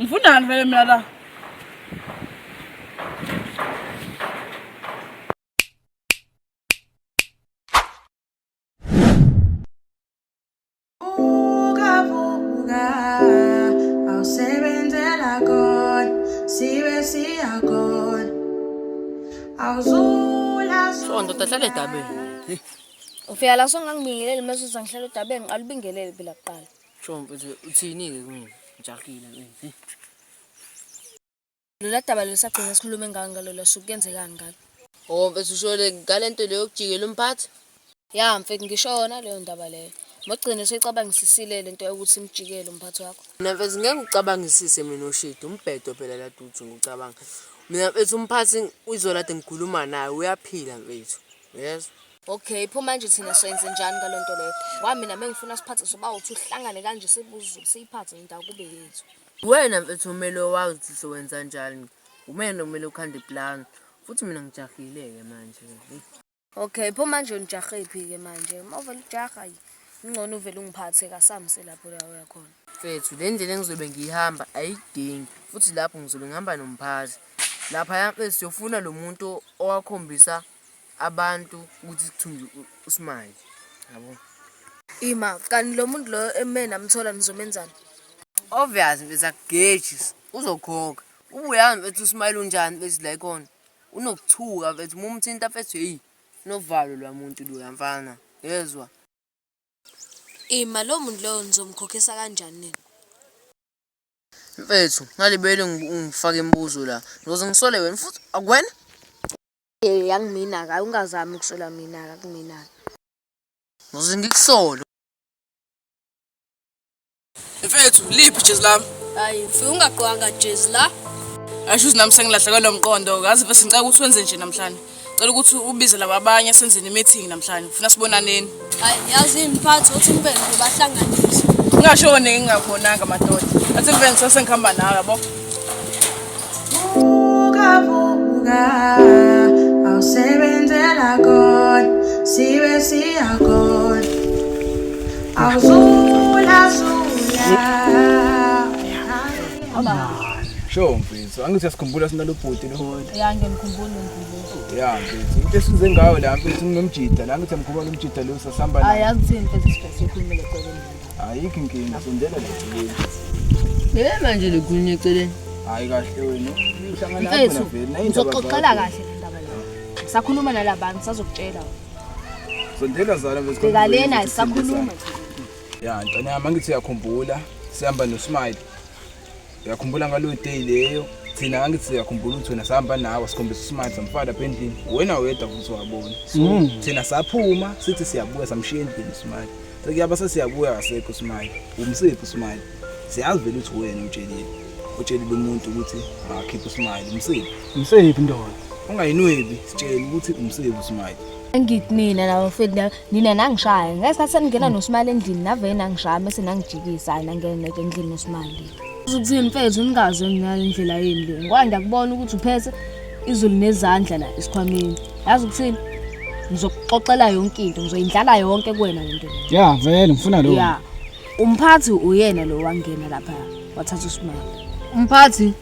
Ngifundani vele mina la. So ndoda hlale edabeni. Ufika la songangibingeleli mase uzangihlala edabeni ngiqala ubingelele phela kuqala. Chompo nje uthini-ke kumina ngijahile mfethu. Lola daba lesagcina sikhulume ngalo ngalo la suku kuyenzekani ngalo. Oh mfethu ushole ngalento leyo yokujikela umphathi? Ya mfethu ngishona leyo ndaba leyo. Mogcine seyicabangisisile le nto yokuthi imjikele umphathi wakho. Mina mfethu ngeke ngicabangisise mina oshidi umbhedo phela la dudu ngicabanga. Mina mfethu umphathi izolo kade ngikhuluma naye uyaphila mfethu. Yezwa. Okay, pho manje thina soyenze njani ngalo nto leyo? Ngoba mina mengifuna siphathe soba uthi uhlangane kanje sibuze siyiphathe into akube yethu. Wena mfethu umele wazi ukuthi sowenza njani. Umele umele ukhande plan. Futhi mina ngijahile ke manje. Hey. Okay, pho manje unijahephi ke manje? Uma uvela ujaha yi. Ngcono uvela ungiphathe kasamse lapho la uya khona. Mfethu le ndlela engizobe ngiyihamba ayidingi futhi lapho ngizobe ngihamba nomphathi. Lapha ya mfethu siyofuna lo muntu owakhombisa abantu ukuthi sithunjwe uSmile yabo ima kanti lo muntu loyo eme namthola nizomenzani obvious beza gauges uzokhokha ubuyami mfethu uSmile unjani bese la ikona unokuthuka mfethu mumthinta mfethu hey novalo lwamuntu lo yamfana yezwa ima lo muntu loyo nizomkhokhisa kanjani nini mfethu ngalibele ngifake imibuzo la ngizoze ngisole wena futhi akwena Eh yangimina ka ungazami ukusola mina ka kumina. Ngize ngikusolo. Mfethu, liphi ijezi lami? Hayi, mfika ungagqwanga jezi la. Asho ukuthi nami sengilahlekelwe lo mqondo. Kazi mfethu ngicela ukuthi wenze nje namhlanje. Cela ukuthi ubize laba abanye senze ne-meeting namhlanje. Ngifuna sibonaneni. Hayi yazi imphathi uthi umfene ubahlanganisa. Ngashone ngingabonanga madoda. Athi mfene sase ngihamba nawe yabo. Vuka vuka awusebenzela God sibe siya God awuzula zula Sho mfethu, angithi uyasikhumbula sinalobhuti lo. Ya ngiyamkhumbula uNkulunkulu. ya mfethu into esize ngayo la mfethu nginomjida la ngithi amkhuba nomjida lo sasihamba la ayazi thini mfethu sifese ukhulumele eceleni ayikho inkinga sondela la eceleni yena manje likhulunye eceleni hayi kahle wena uhlangana lapho na vele nayo ngizoxoxela kahle le ndaba la sakhuluma nalabantu sazokutshela sondela zala mfethu bheka lena sakhuluma ya ntwana yami angithi uyakhumbula sihamba nosmile uyakhumbula ngaleyo day leyo thina ngangithi siyakhumbula ukuthi wena sihamba nawe sikhombisa usimanje samfaka lapha endlini wena wedwa futhi wabona so mm. thina saphuma sithi siyabuya samshiya endlini usimanje sekuyaba sesiyabuya kasekho usimanje umsiphi usimanje siyazi vele ukuthi wena utshelile utshelile umuntu ukuthi akakhiphe usimanje umsiphi umsiphi ndoda ungayinwebi sitshele ukuthi umsiphi usimanje angithi mina laba mfethu nina nangishaya ngesikhathi seningena nosimali endlini navele nangishaya mese nangijikisa hayi nangena neke endlini nosimali uzokuthini mfethu ningaze nginale ndlela yini le ngoba ngiyakubona ukuthi uphethe izulu nezandla la esikhwameni yazi ukuthini ngizokuxoxela yonke into ngizoyindlala yonke kuwena lento ya vele ngifuna lo ya umphathi uyena lo wangena lapha wathatha usimali umphathi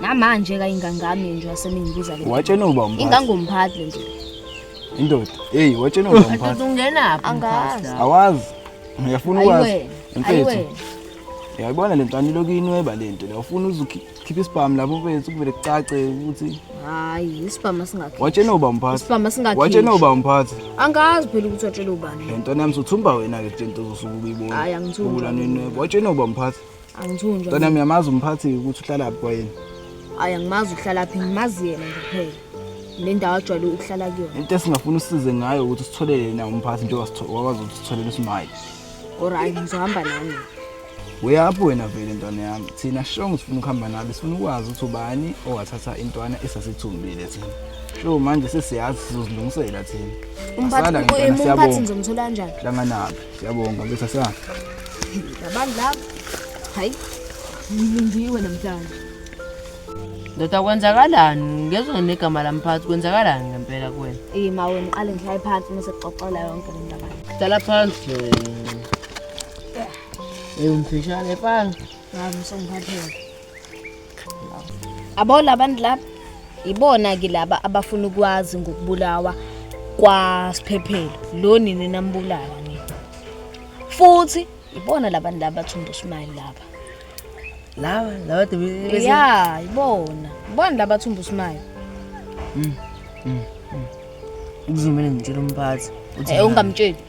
namanje ka ingangami nje wasemingibuza le watshena uba umphathi ingangomphathi le nje indoda hey watshena uba umphathi ungena phi angazi awazi uyafuna ukwazi mfethu uyayibona le ntwana iloku inweba le nto uyafuna uzukhipha isibhamu lapho mfethu kuvele kucace ukuthi hayi isibhamu singakhipha watshena uba umphathi isibhamu singakhipha watshena uba umphathi angazi phela ukuthi watshela ubani le ntwana yami sothumba wena ke nto uzosuka ukuyibona hayi angithumba watshena uba umphathi Angithunjwa. Wena uyamazi umphathi ukuthi uhlala phi kwayena? Hayi angimazi uhlala phi, ngimazi yena nje kuphela. Le ndawo ajwayele ukuhlala kuyona. Into esingafuna usize ngayo ukuthi sithole yena umphathi njengoba sitho- wakwazi ukuthi sitholele uSmile. Alright, ngizohamba nami. Uyaphi wena vele ntwana yami? Thina shongo sifuna ukuhamba nabe, sifuna ukwazi ukuthi ubani owathatha intwana esasithumbile thina. Sho manje sesiyazi sizozilungisela thina. Asala Umphathi ngempela, umphathi siyabonga. ngizomthola kanjani? Hlanganabi. Siyabonga bese sa. Abantu laba. Hayi. Ngilindiwe namhlanje. Ndoda kwenzakalani? Ngezwe negama lami phansi kwenzakalani ngempela kuwena? Eh mawe ngiqale ngihlale phansi uma sekuxoxela yonke le ndaba. Hlala phansi. Eh umfishane phansi. Hayi msongiphathele. abo labantu laba ibona-ke laba abafuna ukwazi ngokubulawa kwasiphephelo lo nini nambulala nini futhi ibona labantu laba bathumba usimali laba laba laba debe ya ibona ibona laba bathumba usimali kuzomele ngitshele umphathi ukuthi Eh, ungamtsheli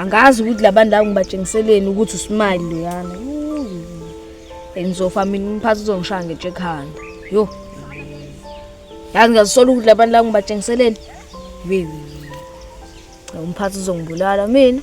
angazi ukuthi labantu labo ngibatshengiseleni ukuthi usmile loyana engizofa mina umphathi uzongishaya ngetshe ekhanda yo yazi ngiyazisola ukuthi labantu labo ngibatshengiseleni wewe umphathi uzongibulala mina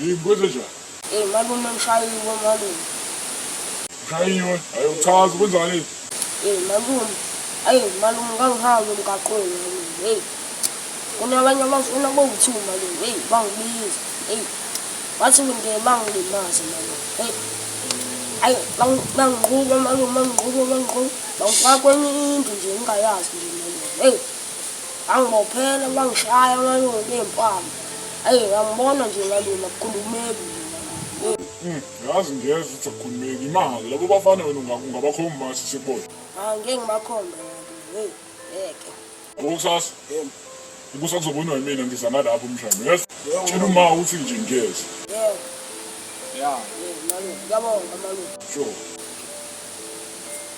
Yini kwenzenjani? Hey malume ngishayiwe malume. Ushayiwe? Hayi uchaza kwenzakaleni? Hey malume. Hayi malume ngangihambe emgaqweni malume. Hey. Kunabanye abafuna bowu-two malume. Hey bangibiza. Hey. Wathi ngeke bangilimaze malume. Hey. Hayi bangiqhuba malume bangiqhuba bangiqhuba. Bangifaka kwenye indlu nje ngingayazi nje malume. Hey. Wangibophela, wangishaya, wangayona ney'mpama. Ayi, ngambona nje ngalima, kukhulumeki. Hmm, yazi ngiyeza ukuthi akukhulumeki imali labo bafana wena ungabakho umasi sibona ah, ngeke ngibakhombe heyi ngeke okusasa ukusa kuzobonwa yimina ngiza nalapho umshana yes tshela uma uthi nje ngiyeza ya ya malume ngiyabonga malume sure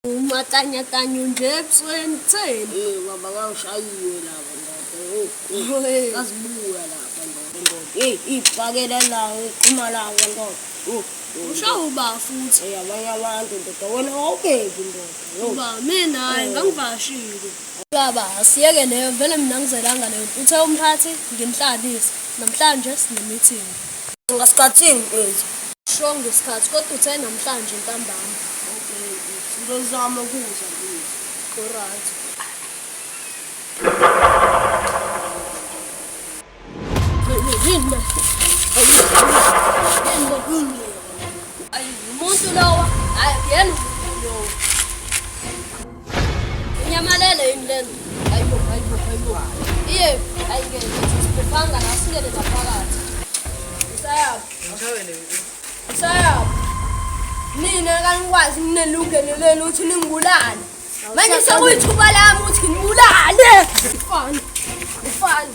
Umatanyatanya unje ebusweni kutheni? Eh baba kawushayiwe lapha ndoda. Oh, oh. Eh. Kazibuya lapha ndoda ndoda. Eh ibhakela la uqhuma la ndoda. Oh. oh. Ushawa uba futhi. Eh abanye abantu ndoda wena awubeki ndoda. Oh. Uba mina hayi eh. ngangivashile. Baba asiyeke leyo vele mina ngizelanga leyo. Uthe umphathi nginhlalise. Namhlanje sinemeeting. Ngasikhathini mfethu. Sho ngesikhathi kodwa uthe namhlanje ntambama. Okay mfethu. Ngizozama ukuza mfethu. Alright. Ayi umuntu lowa. Hayi yena umuntu lowa. Nyamalele yini lento? Hayibo, hayibo, hayibo. Iye, ayike, siphephanga la singene ngaphakathi. Isayaphi? Ngishawele nje. Isayaphi? Mina kanikwazi nginelungelo lenu ukuthi ningibulale. Manje sekuyithuba lami ukuthi nginibulale. Mfana, mfana.